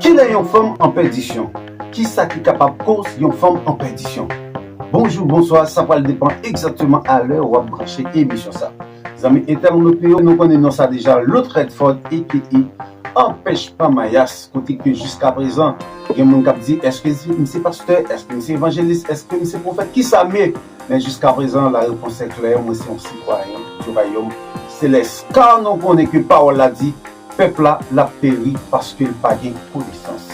Kilè yon fanm an pèdisyon? Kisa ki kapab koz yon fanm an pèdisyon? Bonjou, bonswa, sa pral depan egzakteman a lè wap branche emisyon sa. Zanmi entèwonot nou yo, nou konnen non sa deja, Lotr Redford aka Anpèchman Mayas, kote ke jiska prezan gen moun kap di eske m se pastè, eske m se evanjelis, eske m se pwofèt, kisa m ye? Men jiska prezan la repons se klè mwen se yon sitwayen du rayom selès ka nou konnen ke pawòl la di pèp la lap peri paskel pa gen konesans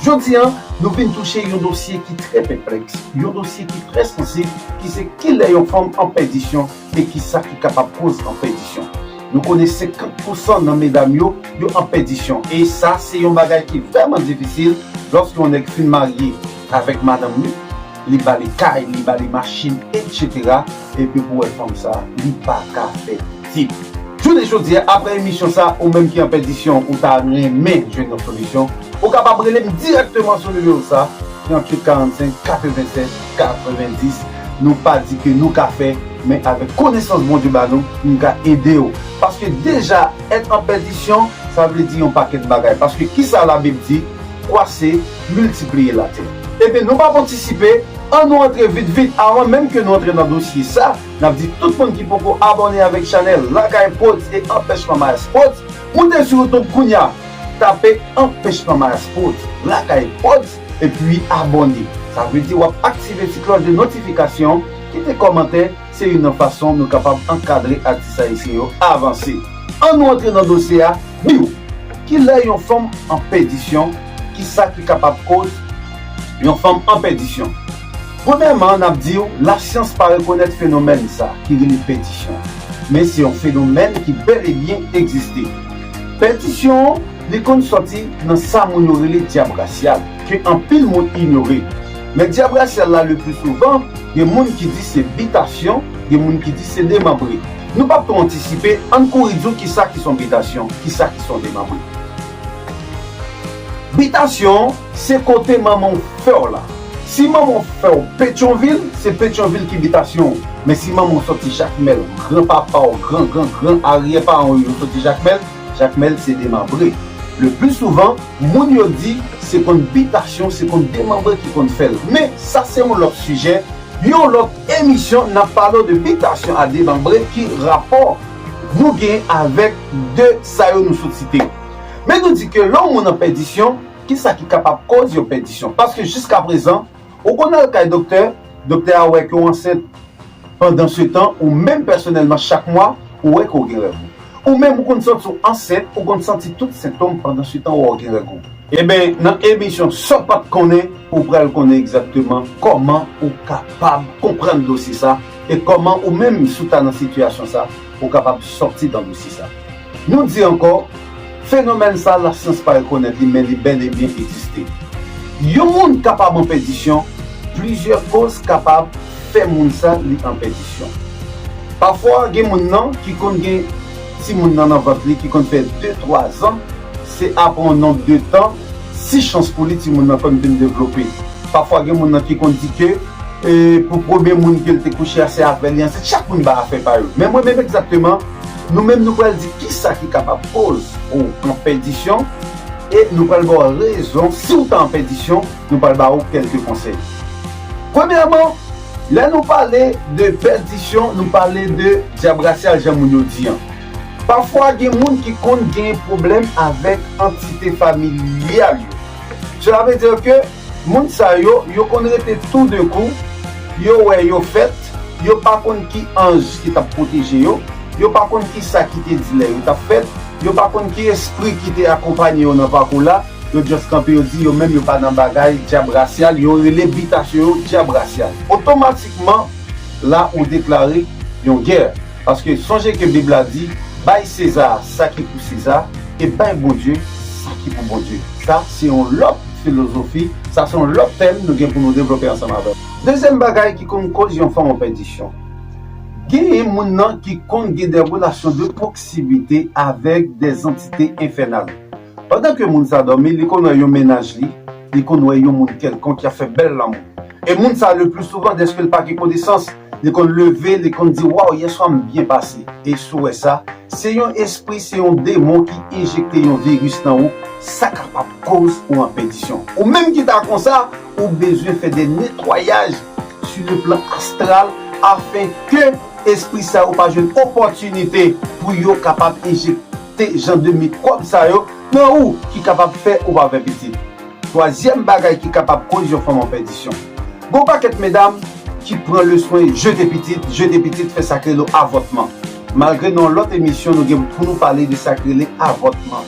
jodi an nou vin touche yon dosye ki trè pèplèks yon dosye ki trè sansib ki se kilè yon fanm an pèdisyon e kisa ki kapab koz an pèdisyon nou konnen 50 pousan nan medam yo yo an pèdisyon e sa se yon bagay ki vrèman difisil lòske yon nèg fin marye avèk madanm li. Li bali kay li bali machin etc epi pou wè fanm sa li paka fè pitit. Jounen jodi a aprè emisyon sa ou menm ki an pèdisyon ou ta renmen jwenn yon solisyon ou kapab rele m dirèkteman sou nimewo sa 38 45 87 90 nou pa di ke nou ka fè men avèk konesans Bondye ba nou nou ka ede w paske deja èt an pèdisyon sa vle di yon pakèt bagay paske kisa labib di kwa se miltipliye latè. Ebyen nou pap antisipe, an nou antre vit vit avan menm ke nou antre nan dosye sa, nap di tout moun ki poko abòne avèk chanèl Lakay Prodz e Anpèchman Mayas Prodz, moute sou YouTube kounya, tape Anpèchman Mayas Prodz, Lakay Prodz, epi abòne, sa vle di wap aktive ti klòch de notifikasyon, kite kòmantè, Se youn nan fason nou kapab ankadre atis ayisyen yo avanse. An nou antre nan dosye a, biw! Kilè yon fanm an pèdisyon? Kisa ki kapab koz yon fanm an pèdisyon? Premyèman, nap diw lasyans pa rekonèt fenomèn sa ki rele pèdisyon, men se yon fenomèn ki bèl e byen egziste. Pèdisyon. Li konn sòti nan sa moun yo rele dyab rasyal, ke anpil moun inyore. Men dyab rasyal la lepli souvan, gen moun ki di se bitasyon, gen moun ki di se demanbre. Nou pap twò antisipe, ann kouri di w kisa ki s on bitasyon, kisa ki s on demanbre. Bitasyon, se kote manman w fè w la. Si manman w fè w Petyonvil, se Petyonvil ki bitasyon w. Men si manman w sòti Jakmèl, gran papa w, gran gran gran aryè paran w yo sòti Jakmèl, Jakmèl se demanbre. Le pli souvan, moun yo di se konn bitasyon, se konn demanbre ki konn fèl. Men, sa se yon lòt sijè, yon lòt emisyon nap pale w de bitasyon a demanbre ki rapò nou gen avèk 2 sa yo nou sot site. Men nou di ke lè yon moun an pèdisyon, ki sa ki kapab koz yon pèdisyon? Paske jiska prezan, ou konn al kay doktè, doktè a wè ke w ansent, Pandansetan, ou menm pèsonèlman chak mwa, ou wè ke w gen règ ou. Ou menm ou konn santi w ansent, ou konn santi tout sentom pandansetan wè w gen règ ou. Eben, nan emisyon Sa w pa t konnen, ou pral konnen egzakteman kòman ou kapab konprann dosye sa e kòman ou menm si w ta nan sitiyasyon sa, ou kapab sòti dan dosye sa. Nou di ankò, fenomèn sa lasyans pa rekonèt li men li bèl e byen egziste. Yon moun kapab an pèdisyon, plizyè koz kapab fè moun sa li an pèdisyon. Pafwa gen moun nan ki konn gen timoun nan nan vant li ki konn fè de twa zan, se apre yon nonb de tan, si chans pou li timoun nan konn vin devlope. Pafwa gen moun nan ki konn di ke pou premye moun ke l te kouche a se avè li ansent, chak moun bay afè pa yo. Men mwen menm egzakteman, Nou menm nou pral di kisa ki kapab koz ou an pèdisyon e nou pral ba w rezon si w ta an pèdisyon, nou pral ba ou kèlke konsèy. Premyèman, lè nou pale de pèdisyon nou pale de dyabrasyal jan moun yo di an. Pafwa gen moun ki konn gen pwoblèm avèk antite familyal yo. Sela vle di ke. Moun sa yo, yo konn rete tou de kou, yo wè yo fèt, yo pa konn ki anj ki t ap pwoteje yo, yo pa konn ki sa ki te di lè yo t ap fèt, yo pa konn ki espri ki te akonpanye yo nan pakou la, yo just kanpe yo di yo menm yo pa nan bagay dyab rasyal, yo rele bitasyon yo dyab rasyal. Otomatikman la ou deklare yon gè. Paske, sonje ke Bib la di, Bay Seza sa ki pou Seza, e bay Bondye sa ki pou Bondye. Sa se yon lòt filozofi, sa se yon lòt tèm nou gen pou nou devlope ansanm avè w. Dezyèm bagay ki konn koz yon fanm an pèdisyon, genyen moun nan ki konn gen de relasyon de pwoksimite avèk de zantite enfènal. Pandan ke moun sa dòmi, li konn wè yon mennaj li, li konn wè yon moun kèlkonk ki ap fè bèl lanmou. E moun sa, le pli souvan, dèske l pa gen konesans, Li konn leve li konn di waw yeswa m byen pase e sou wè sa se yon espri se yon demon ki enjekte yon viris nan ou sa kapab koz ou an pèdisyon ou menm ki ta konsa ou bezwen fè de netwayaj su le plan astral afen ke espri sa yo pa jwenn opòtinite pou yo kapab enjekte jan de mikwòb sa yo nan ou ki kapab fè ou pa fè pitit. Twazyèm bagay ki kapab koz yon fanm an pèdisyon. Gen yon pakèt medam ki pran le swen jete pitit, jete pitit fè sak rele avòtman. Malgre nan yon lòt emisyon nou gen pou nou pale de sak rele avòtman.